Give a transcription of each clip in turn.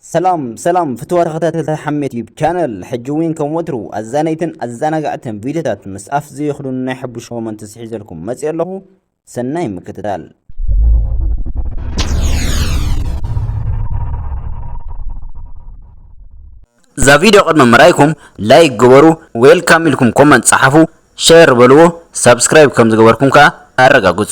ሰላም ሰላም ፍትወ ተኸታተልቲ ሓሜት ዩብ ቻነል ሕጂ እውን ከም ወትሩ ኣዛነይትን ኣዘናጋዕትን ቪድዮታት ምስ ኣፍ ዘይኽዱን ናይ ሕቡሽ ኮመንት ስሒዘልኩም መፅእ ኣለኹ ሰናይ ምክትታል እዛ ቪድዮ ቅድሚ ምራይኩም ላይክ ግበሩ ዌልካም ኢልኩም ኮመንት ፀሓፉ ሸር በልዎ ሳብስክራይብ ከም ዝገበርኩም ከዓ ኣረጋግፁ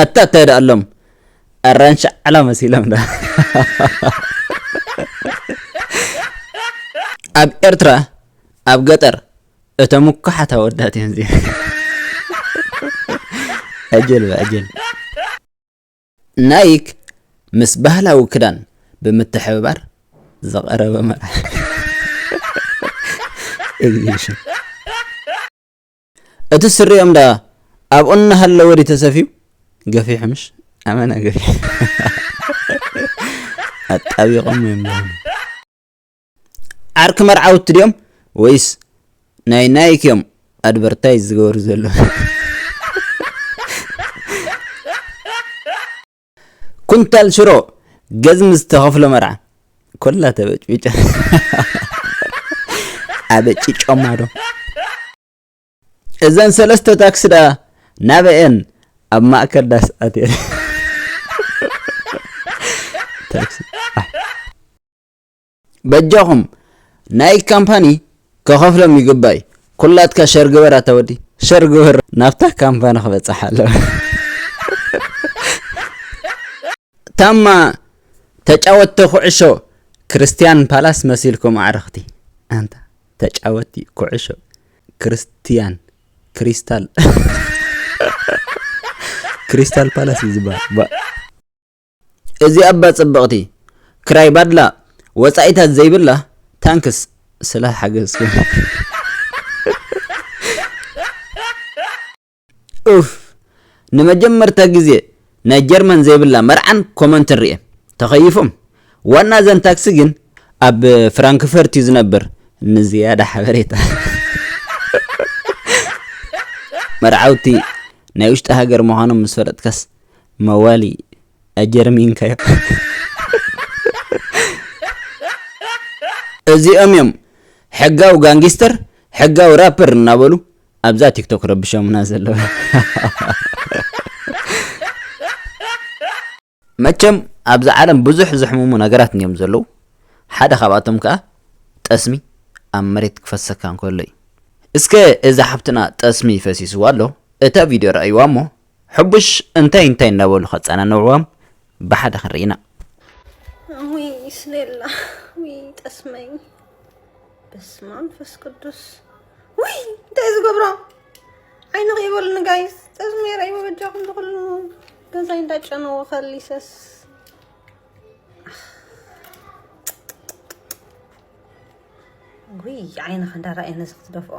ኣታ እንታይ ደኣ ኣሎም ኣራንሺ ዓላ መሲሎም ዳ ኣብ ኤርትራ ኣብ ገጠር እተ ምኩሓት ኣወዳት እዮም ዚ ኣጀል ኣጀል ናይክ ምስ ባህላዊ ክዳን ብምትሕብባር ዝቐረበ መርዓ። እቲ ስሪኦም ደኣ ኣብኡ እናሃለወ ድዩ ተሰፍዩ? ገፊሑ ምሽ? ኣመና ገፊሑ። ኣጣቢቖም እዮም ዝኹኑ። ዓርኪ መርዓውቲ ድዮም ወይስ ናይ ናይክ እዮም ኣድቨርታይዝ ዝገበሩ ዘለዉ? ኩንታል ሽሮ ገዝሚ ዝተኸፍሎ መርዓ ኮላ ተበጭቢጫ ኣበጭጮማ ዶ እዘን ሰለስተ ታክሲ ዳ ናበኤን ኣብ ማእከል ዳስ ኣትየን በጃኹም ናይ ካምፓኒ ከኸፍሎም ይግባእ እዩ ኩላትካ ሸር ግበር ኣታ ወዲ ሸር ግበር ናብታ ካምፓኒ ክበፅሕ ኣለዎ ታማ ተጫወቲ ኩዕሾ ክርስትያን ፓላስ መሲልኩም ኣዕረኽቲ ኣንታ ተጫወቲ ኩዕሾ ክርስትያን ክሪስታል ክሪስታል ፓላስ እዩ ዝበሃል እዚ እባ ጽብቅቲ ክራይ ባድላ ወጻኢታት ዘይብላ ታንክስ ስለ ሓገዝክን። ኡፍ ንመጀመርታ ግዜ ናይ ጀርመን ዘይብላ መርዓን ኮመንትን ሪኤ ተከይፎም ዋና እዘን ታክሲ ግን ኣብ ፍራንክፈርት እዩ ዝነብር ንዝያዳ ሓበሬታ መርዓውቲ ናይ ውሽጢ ሃገር ምዃኖም ምስ ፈለጥካስ መዋሊ ኣጀር ሚንካዮ። እዚኦም እዮም ሕጋዊ ጋንጊስተር ሕጋዊ ራፐር እናበሉ ኣብዛ ቲክቶክ ክረብሾሙና ዘለዉ። መቸም ኣብዛ ዓለም ብዙሕ ዘሕምሙ ነገራት እንዮም ዘለዉ ሓደ ካብኣቶም ከኣ ጠስሚ ኣብ መሬት ክፈሰካ እንከሎ እዩ። እስከ እዛ ሓፍትና ጠስሚ ፈሲስዋ ኣሎ እታ ቪድዮ ረኣይዋ እሞ ሕቡሽ እንታይ እንታይ እናበሉ ከጸናንዕዎም ብሓደ ክንርኢ ኢና። ውይ ስሌላ ውይ ጠስመይ በስመ ኣብ መንፈስ ቅዱስ ውይ እንታይ ዝገብሮ ዓይኒ ከይበሉኒ ጋይስ ጠስመይ ረእይዎ በጃኹም ዝኽሉ ገዛይ እንዳጨነዎ ከሊሰስ ውይ ዓይንኻ እንዳረኣየ ነዚ ክትደፍኦ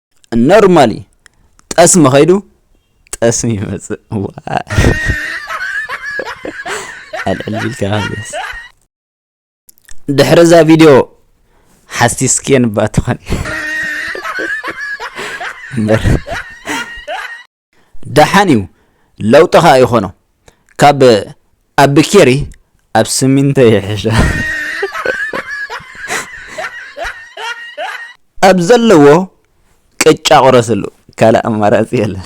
ኖርማል እዩ ጠስሚ ከይዱ ጠስሚ ይመፅእ ኣልዕል ቢልካ መለስ ድሕሪ እዛ ቪድዮ ሓሲስክየን እባ ትኾን እምበር ደሓን እዩ ለውጢ ከኣ ይኾኖ ካብ ኣቢ ኬሪ ኣብ ስሚንቶ ይሕሾ ኣብ ዘለዎ ቅጫ ቁረስሉ ካልእ ኣማራጺ የለን።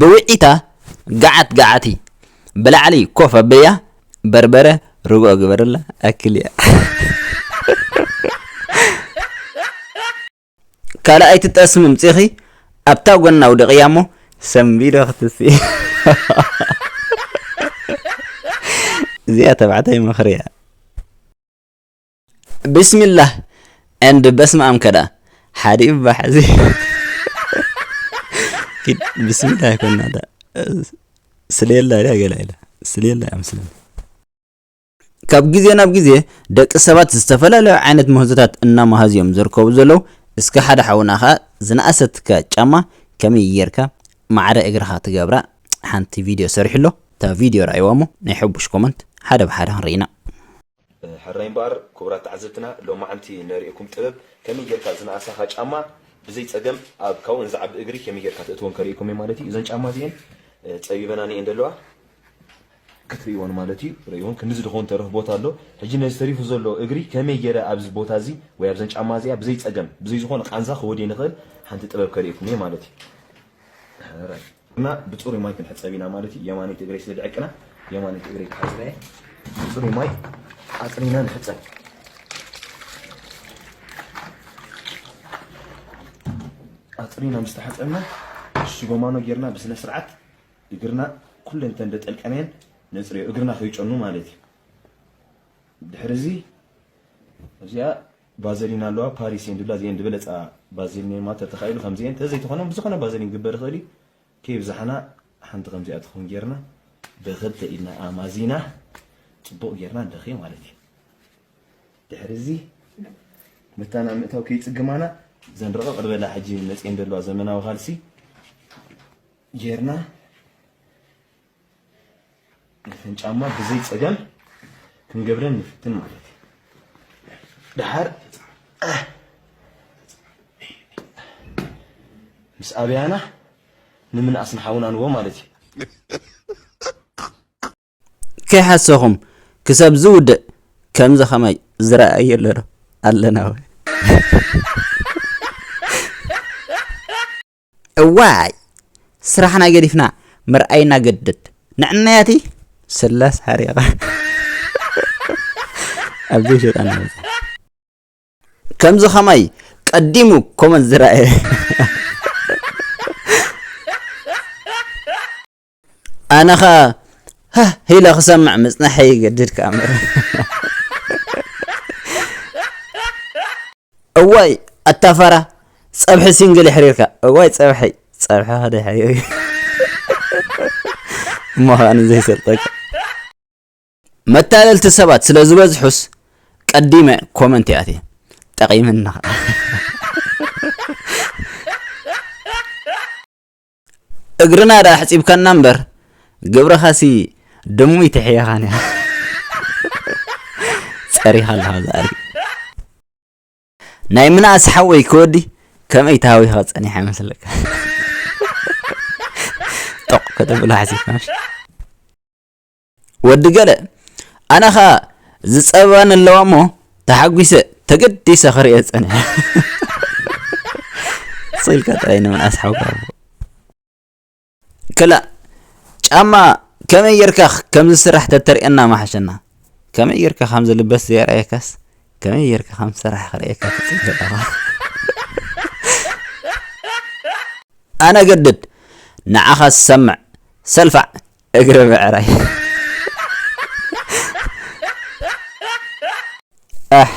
ብውዒታ ገዓት ገዓቲ ብላዕሊ ኮፍ ኣብያ በርበረ ርግኦ ግበርላ ኣክልያ ካልኣይቲ ጠስሚ ምጺኺ ኣብታ ጎና ኣውድቕያ እሞ ሰንቢዶ ክትሲ እዚኣ ተባዕታይ ምኽሪ እያ ብስሚላህ and በስምኣም ከዳኣ ሓዲ እባ ሕዚ ኪድ ብስሚላህ ይኮና ዳ ስለየላ ድያ ገላ ኢላ ስለየላ እያ ምስለኒ ካብ ግዜ ናብ ግዜ ደቂ ሰባት ዝተፈላለዩ ዓይነት ምህዞታት እናመሃዙ እዮም ዝርከቡ ዘለዉ እስከ ሓደ ሓውና ከዓ ዝነኣሰትካ ጫማ ከመይ ጌርካ ማዕረ እግርኻ ትገብራ ሓንቲ ቪድዮ ሰሪሑ ኣሎ እታ ቪድዮ ረኣይዋ እሞ ናይ ሕቡሽ ኮመንት ሓደ ብሓደ ክንርኢና ሕራይ እምበኣር ኩቡራት ተዓዘብትና ሎማዓንቲ ነርእየኩም ጥበብ ከመይ ጌርካ ዝነኣሳኻ ጫማ ብዘይ ጸገም ኣብ ካውእን ዝዓቢ እግሪ ከመይ ጌርካ ተእትዎም ከርእየኩም እየ ማለት እዩ እዘን ጫማ እዚኤን ጸቢበናኒ እየን ደለዋ ክትርእይወን ማለት እዩ ርእይወን ክንድዚ ድኸውን ተረፍ ቦታ ኣሎ ሕጂ ነዚ ተሪፉ ዘሎ እግሪ ከመይ ጌረ ኣብዚ ቦታ እዚ ወይ ኣብዘን ጫማ እዚኣ ብዘይ ጸገም ብዘይ ዝኾነ ቃንዛ ክወድየን ይኽእል ሓንቲ ጥበብ ከርእየኩም እየ ማለት እዩ። እና ብፅሩይ ማይ ክንሕፀብ ኢና ማለት እዩ የማነይቲ እግረይ ስለ ድዕቅና የማነይቲ እግረይ ክሓፅበ እየ ብፅሩይ ማይ ኣፅሪና ንሕፀብ ኣፅሪና ምስ ተሓፀብና ሽጎማኖ ጌርና ብስነ ስርዓት እግርና ኩለን እተን ደጠልቀነየን ነፅርዮ እግርና ከይጨኑ ማለት እዩ ድሕሪ እዚ እዚኣ ቫዘሊን ኣለዋ ፓሪስ እየን ድብላ እዚኤን ድበለጻ ቫዘሊን እየን ማለት ተተካኢሉ ከምዚኤን ተዘይ ተኮነ ብዝኮነ ቫዘሊን ክግበር ይክእል እዩ ከይብዛሓና ሓንቲ ከምዚኣ ትከውን ጌርና ብክልተ ኢድና ኣማዚና ጽቡቅ ጌርና ንለክዮ ማለት እዩ ድሕሪ እዚ መታን ኣብ ምእታው ከይጽግማና እዘን ረቀቅ ድበላ ሕጂ መጽኤን ዘለዋ ዘመናዊ ካልሲ ጌርና ነተን ጫማ ብዘይ ጸገም ክንገብረን ንፍትን ማለት እዩ ድሓር ምስ ኣብያና ንምንኣስ ንሓውና ንቦ ማለት እዩ ከይሓሰኹም ክሰብ ዝውድእ ከምዚ ከማይ ዝረኣየ ኣለዶ ኣለና ወይ እዋይ ስራሕና ገዲፍና ምርኣይና ግድድ ንዕናያቲ ስላስ ሓሪቓ ኣብዘይ ሸጣና ከምዚ ከማይ ቀዲሙ ኮመንት ዝረኣየ ኣነ ኸኣ ሃህ ኢለ ክሰምዕ ምጽናሐይ ይገድድ ከኣ እምበር እዋይ ኣታ ፋራ ጸብሒ ሲንግል የሕሪርካ እዋይ ጸብሒ ጸብሒ ከደሕሪር እዩ ምዃኑ ዘይሰልጠካ መታለልቲ ሰባት ስለ ዝበዝሑስ ቀዲመ ኮመንት ይኣትየ ጠቒምና እግርና ድኣ ኣሕጺብካና እምበር ግብርኻሲ ድሙይ ትሕየኻን እያ ጸሪኻ ኣለኻ ዛሪ ናይ ምናእስ ሓወይ ክወዲ ከመይ ተሃዊኻ ጸኒሐ መስለካ ጦቕ ከተብሎ ሓሲብካ ወዲ ገለ ኣነ ከኣ ዝጸበባኒ ኣለዋ እሞ ተሓጒሰ ተገዲሰ ክርእየ ጸኒሐ ስኢልካ ጥራይ ንምንኣስ ሓጓቦ ክላእ ጫማ ከመይ ጌርካ ከም ዝስራሕ ተተርእየና ማሓሸና ከመይ ጌርካ ከም ዝልበስ ዘየርኣየካስ ከመይ ጌርካ ከም ዝስራሕ ክርእየካ ትፅበ ኣለኻ ኣነ ገድድ ንዓኻ ዝሰምዕ ሰልፋዕ እግረ ብዕራይ ኣሕ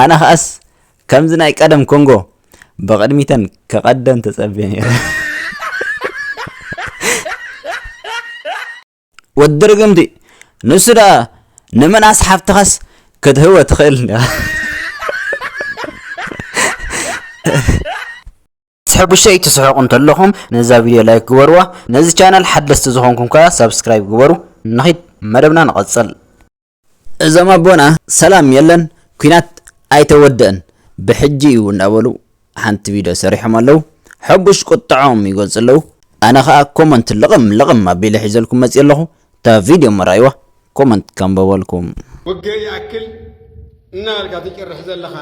ኣነ ኸኣስ ከምዚ ናይ ቀደም ኮንጎ ብቕድሚተን ክቐደን ተጸብየ ነይረ ወዲ ርግምቲ ንሱ ደኣ ንመናስ ሓፍትኻስ ክትህወ ትኽእል ትሕጉሰ እዩ ትስሕቁ እንተለኹም ነዛ ቪድዮ ላይክ ግበርዋ ነዚ ቻናል ሓደስቲ ዝኾንኩም ከኣ ሳብስክራይብ ግበሩ ንኺድ መደብና ንቐጽል እዞም ኣቦና ሰላም የለን ኩናት ኣይተወደእን ብሕጂ እዩ እንዳበሉ ሓንቲ ቪድዮ ሰሪሖም ኣለው ሕቡሽ ቁጥዖም ይገልጹ ኣለው ኣነ ከኣ ኮመንት ልቕም ልቕም ኣቢለ ሒዘልኩም መጽየ ኣለኹ እታ ቪድዮ መራይዋ ኮመንት ከንበበልኩም ወገ ይኣክል እናበልካ ትጭርሕ ዘለኻ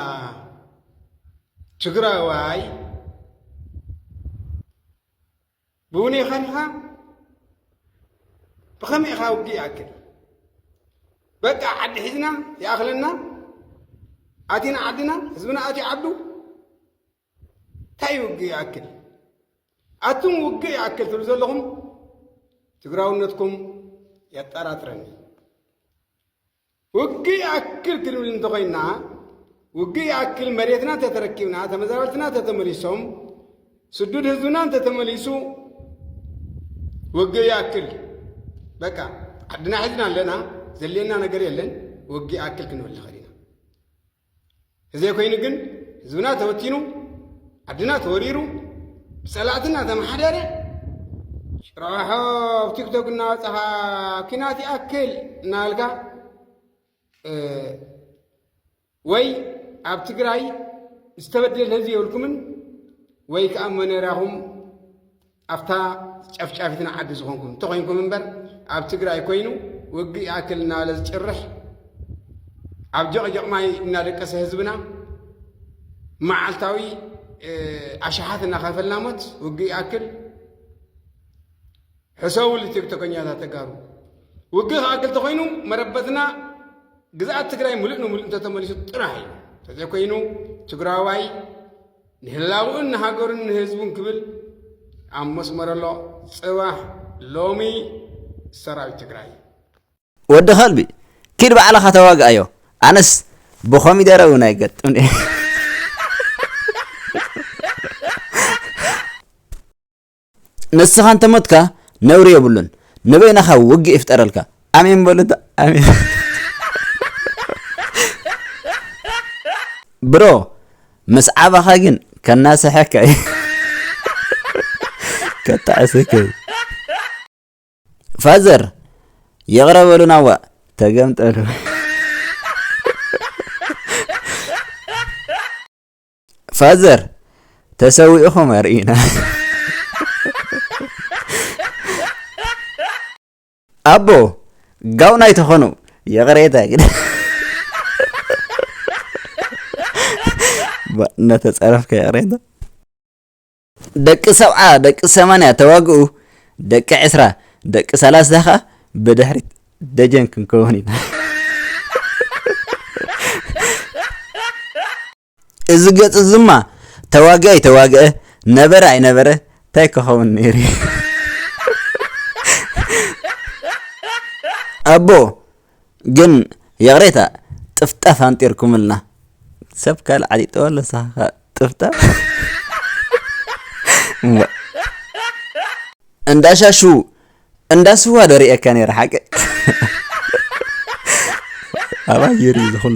ትግራዋይ ብውነ ኸንኻ ብኸመይ ኢኻ ውግእ ይኣክል በቃ ዓዲ ሒዝና ይኣኽለና ኣቲና ዓድና ህዝብና ኣትዩ ዓዱ እንታይ ውግእ ይኣክል ኣቱም ውግእ ይኣክል ትብሉ ዘለኹም ትግራውነትኩም የጠራጥረኒ ውግእ ይኣክል ክንብል እንተኾይንና ውግእ ይኣክል መሬትና እንተተረኪብና ተመዛበልትና እንተተመሊሶም ስዱድ ህዝብና እንተተመሊሱ ውግእ ይኣክል በቃ ዓድና ሒዝና ኣለና ዘልየና ነገር የለን ውግእ ይኣክል ክንብል ንኽእል ኢና እዘይኮይኑ ግን ህዝብና ተበቲኑ ዓድና ተወሪሩ ብፀላእቲ እናተመሓደረ ጭራሖ ኣብ ቲክቶክ እናወፃኻ ኪናት ይኣክል እናበልካ ወይ ኣብ ትግራይ ዝተበደለ ህዝቢ የብልኩምን ወይ ከዓ መነራኹም ኣብታ ጨፍጫፊትና ዓዲ ዝኾንኩም እንተኾይንኩም እምበር ኣብ ትግራይ ኮይኑ ውግእ ይኣክል እናበለ ዝጭርሕ ኣብ ጀቕጀቕ ማይ እናደቀሰ ህዝብና መዓልታዊ ኣሽሓት እናኸፈልና ሞት ውግእ ይኣክል ሕሰቡሉ ቲክቶከኛታት ተጋሩ ውግእ ክኣክል ተኾይኑ መረበትና ግዝኣት ትግራይ ሙሉእ ንሙሉእ እንተተመሊሱ ጥራሕ እዩ እንተዘይኮይኑ ትግራዋይ ንህላውኡን ንሃገሩን ንህዝቡን ክብል ኣብ መስመር ኣሎ ጽባሕ ሎሚ ሰራዊት ትግራይ። ወዲ ከልቢ ኪድ ባዕልኻ ተዋግኣዮ ኣነስ ብኮሚደረ ውን ኣይገጥምን እየ። ንስኻ እንተ ሞትካ ነውሪ የብሉን ንበይናኻ ውግእ ይፍጠረልካ ኣሜን በሉ እንተ ኣሜን ብሮ ምስ ዓባኻ ግን ከናስሐካ እዩ ከጣዕሰካ እዩ ፋዘር ይቕረ በሉና ዋእ ተገምጠሉ ፋዘር ተሰዊእኹም ኣርእዩና ኣቦ ጋውና ኣይተኾኑ ይቕሬታ ግን እናተፀረፍካ ይቕሬታ ደቂ ሰብዓ ደቂ ሰማንያ ተዋግኡ ደቂ ዕስራ ደቂ ሰላሳ ከዓ ብድሕሪት ደጀን ክንከውን ኢና እዚ ገጽ እዝማ ተዋግእ ኣይተዋግአ ነበረ ኣይነበረ እንታይ ክኸውን ነይሩ እዩ ኣቦ ግን ይቕሬታ ጥፍጣፍ ኣንጢርኩምልና ሰብ ካልእ ዓጢጠወ ኣሎ ሳኻ ጥፍጣፍ እንዳ ሻሹ እንዳ ስዋ ዶ ርእየካ ነይረ ሓቂ ኣባይ ይርኢ ዝኹሉ